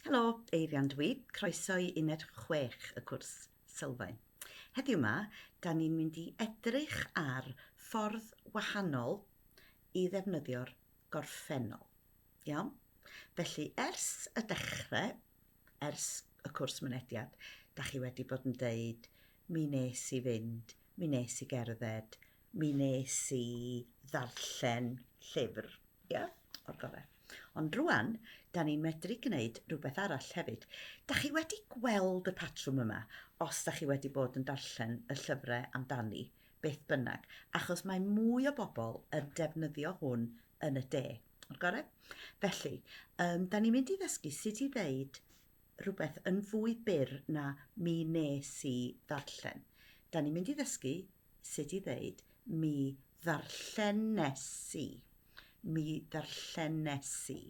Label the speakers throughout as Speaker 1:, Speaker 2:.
Speaker 1: Helo, Eirian dwi, croeso i uned 6 y cwrs sylfaen. Heddiw yma, da ni'n mynd i edrych ar ffordd wahanol i ddefnyddio'r gorffennol. Iawn? Felly, ers y dechrau, ers y cwrs mynediad, da chi wedi bod yn deud, mi nes i fynd, mi nes i gerdded, mi nes i ddarllen llyfr, ia, yeah, o'r gorau. Ond rwan, da ni'n medru gwneud rhywbeth arall hefyd. Da chi wedi gweld y patrwm yma, os da chi wedi bod yn darllen y llyfrau amdani, beth bynnag, achos mae mwy o bobl yn defnyddio hwn yn y de. O'r gorau? Felly, um, da ni'n mynd i ddysgu sut i ddeud rhywbeth yn fwy byr na mi wnes i ddarllen. Da ni'n mynd i ddysgu sut i ddeud mi ddarllenes i. Mi ddarllenes i.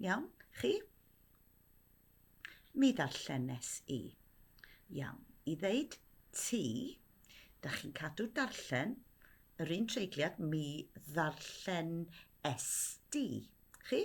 Speaker 1: Iawn? Chi? Mi ddarllenes i. Iawn. I ddeud ti, da chi'n cadw darllen yr un treigliad mi ddarllen esti. Chi?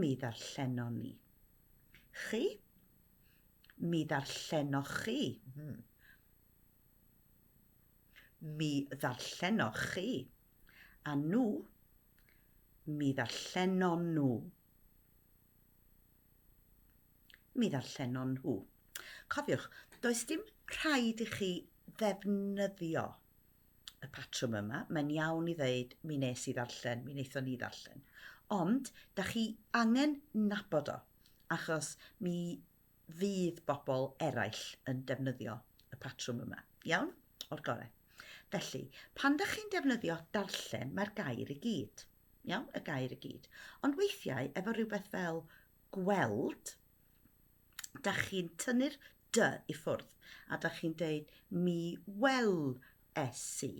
Speaker 1: Mi ddarllenon ni. Chi? Mi ddarllenoch chi. Hmm. Mi ddarllenoch chi. A nhw? Mi ddarllenon nhw. Mi ddarllenon nhw. Cofiwch, does dim rhaid i chi ddefnyddio y patrwm yma, mae'n iawn i ddeud mi nes i ddarllen, mi wnaethon ni ddarllen. Ond, da chi angen nabod o, achos mi fydd bobl eraill yn defnyddio y patrwm yma. Iawn? O'r gorau. Felly, pan da chi'n defnyddio darllen, mae'r gair i gyd. Iawn? Y gair i gyd. Ond weithiau, efo rhywbeth fel gweld, da chi'n tynnu'r dy i ffwrdd a da chi'n deud mi wel esi,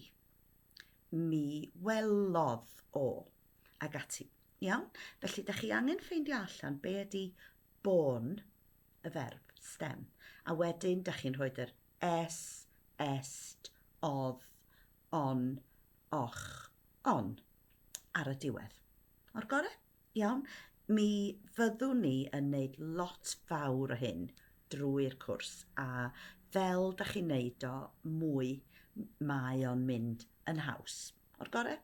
Speaker 1: mi welodd o, ag ati. Iawn? Felly, da chi angen ffeindio allan be ydy bôn y ferf, stem. A wedyn, da chi'n rhoi yr es, est, odd, on, och, on ar y diwedd. O'r gorau? Iawn, mi fyddwn ni yn wneud lot fawr o hyn drwy'r cwrs a fel da chi'n neud o mwy mae o'n mynd yn haws. O'r gore?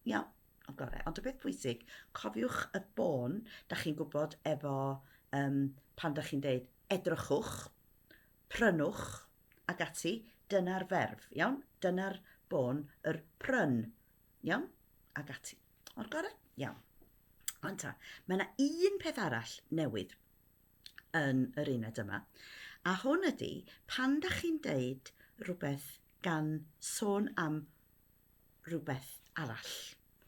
Speaker 1: Iawn, o'r gore. Ond y peth pwysig, cofiwch y bôn da chi'n gwybod efo um, pan da chi'n deud edrychwch, prynwch ac ati, dyna'r ferf, iawn? Dyna'r bôn, yr pryn, iawn? Ac ati. O'r gorau? Iawn. Ond ta, mae yna un peth arall newydd yn yr uned yma. A hwn ydy, pan da chi'n deud rhywbeth gan sôn am rhywbeth arall.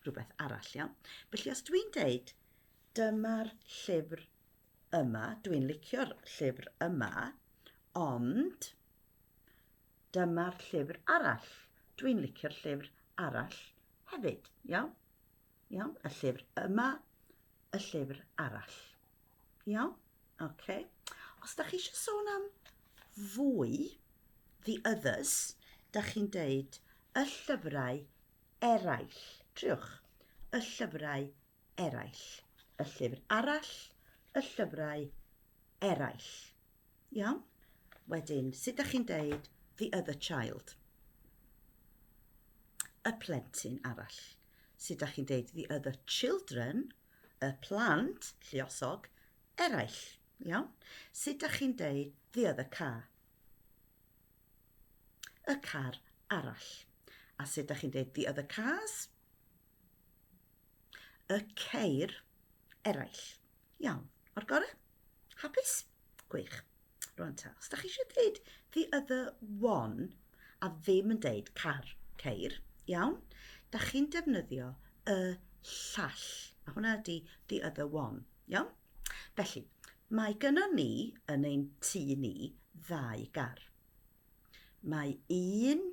Speaker 1: Rhywbeth arall, iawn. Felly os dwi'n deud, dyma'r llyfr yma, dwi'n licio'r llyfr yma, ond Dyma'r llyfr arall. Dwi'n licio'r llyfr arall hefyd, iawn? Iawn, y llyfr yma, y llyfr arall. Iawn? Oce. Okay. Os da chi eisiau sôn am fwy, the others, da chi'n deud y llyfrau eraill. Triwch, y llyfrau eraill. Y llyfr arall, y llyfrau eraill. Iawn? Wedyn, sut da chi'n deud the other child? Y plentyn arall. Sut da chi'n deud the other children? Y plant, lliosog, eraill. Iawn? Sut da chi'n deud the other car? Y car arall. A sut da chi'n deud the other cars? y ceir eraill. Iawn, o'r gorau? Hapus? Gwych. Rwan ta, os da chi eisiau dweud the other one a ddim yn deud car, ceir, iawn, da chi'n defnyddio y llall. A hwnna ydy the other one, iawn? Felly, mae gyno ni yn ein tu ni ddau gar. Mae un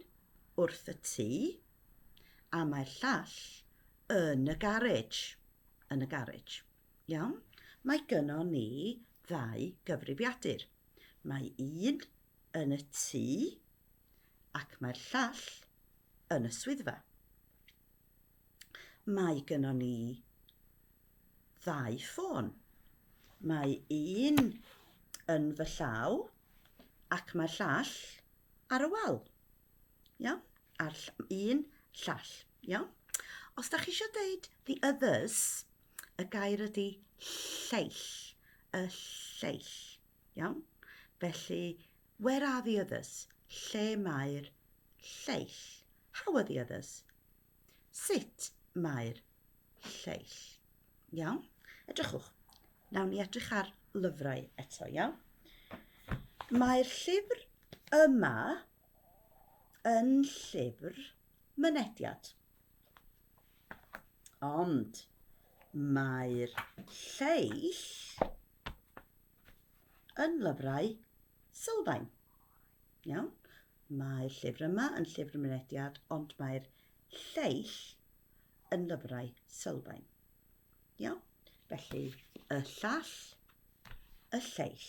Speaker 1: wrth y tu, a mae'r llall yn y garej, yn y garej. Iawn? Mae gynnon ni ddau gyfrifiadur. Mae un yn y tŷ ac mae'r llall yn y swyddfa. Mae gynnon ni ddau ffôn. Mae un yn fy llaw ac mae'r llall ar y wal. Iawn? A'r un llall. Iawn? Os da chi eisiau deud the others, y gair ydy lleill. Y lleill. Iawn? Felly, where are the others? Lle mae'r lleill? How are the others? Sut mae'r lleill? Iawn? Edrychwch. Nawn ni edrych ar lyfrau eto, iawn? Mae'r llyfr yma yn llyfr mynediad. Ond mae'r lleill yn lyfrau sylfaen. Iawn? Mae'r llyfr yma yn llyfr mynediad, ond mae'r lleill yn lyfrau sylfaen. Iawn? Felly, y llall, y lleill.